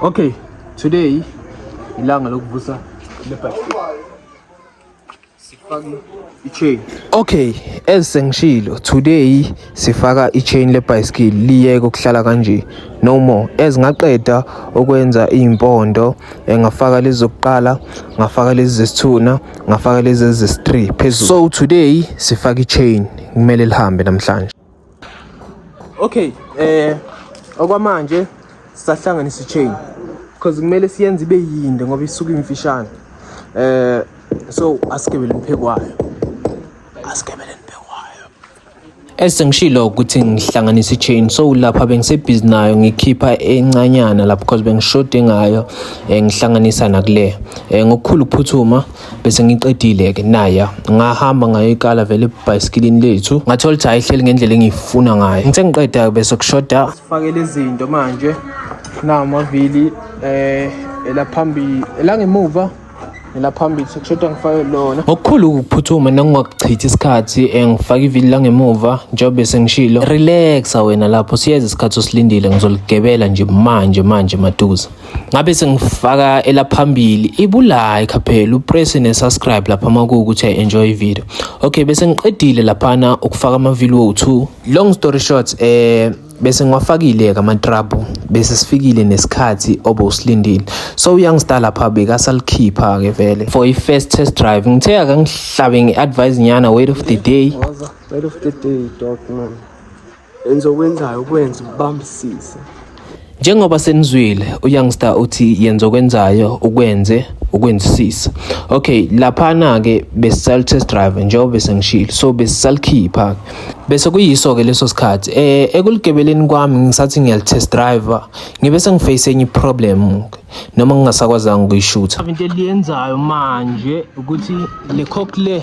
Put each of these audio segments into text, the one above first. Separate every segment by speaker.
Speaker 1: Okay, today ilanga lokuvusa lebhadi. Sifake i-chain. Okay, as sengishilo, today sifaka i-chain lebhayisikili liyeke ukuhlala kanje. No more. As ngaqeda ukwenza impondo, eh, ngafaka lezi zokuqala, ngafaka lezi zesithuna, ngafaka lezi zesi-3 phezulu. So today sifaka i-chain, kumele lihambe namhlanje. Okay, eh okwamanje sisahlanganisa ichain because kumele siyenze ibe yinde ngoba isuke imfishane. Eh so asigibele imphekwayo. Asigibele imphekwayo. Esengishilo ukuthi ngihlanganisa ichain so lapha bengisebhizi nayo ngikhipha encanyana lapha because bengishoda ngayo eh, ngihlanganisa nakule eh, ngokukhulu ukuphuthuma bese ngiqedile-ke naya ngahamba ngayoyiqala vele ebhayisikilini lethu ngathola ukuthi ayihleli ngendlela engiyifuna ngayo ngithe ngiqeda-ke bese kushoda sifakele izinto manje namavili um eh, elaphambili elangemuva nelaphambili sekushoda ngifake lona ngokukhulu ukuphuthuma nangingakuchithi isikhathi eh, ngifake ivili langemuva njengobe sengishilo relaxa wena lapho siyeza isikhathi osilindile ngizoligebela nje manje manje maduze ngabe sengifaka elaphambili ibulayi khaphela upress ne-subscribe lapha uma kuwukuthi enjoy video okay bese ngiqedile laphana ukufaka amavili wo-two long story short eh bese ngiwafakile-ke amatrabhu bese sifikile nesikhathi obowusilindile so uyoung star lapha bekasalikhipha-ke vele for i-first test drive ngithe akangihlabe nge-advise nyana wait of the day wait of the day dog man Enzokwenzayo kwenza ubambisise. Njengoba senizwile uYoungster uthi yenza okwenzayo ukwenze ukwenzisisa. Okay, laphana ke besisal test drive njengoba besengishilo. So besisalikhipha. Bese kuyiso ke leso sikhathi. Eh ekuligebeleni kwami ngisathi ngiyal test drive ngibe sengiface enye problem noma ngingasakwazanga ukuyishutha. Into eliyenzayo manje ukuthi le cock le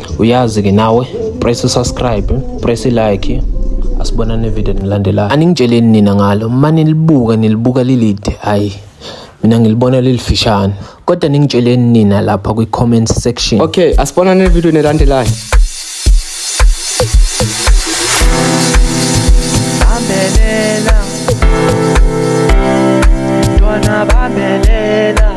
Speaker 1: uyazi ke nawe press subscribe press like asibonane video nilandelayo aningitsheleni nina ngalo mani libuka nilibuka lilide hayi mina ngilibona lilifishane kodwa ningitsheleni nina lapha kwi comment section okay asibonane
Speaker 2: video nelandelayo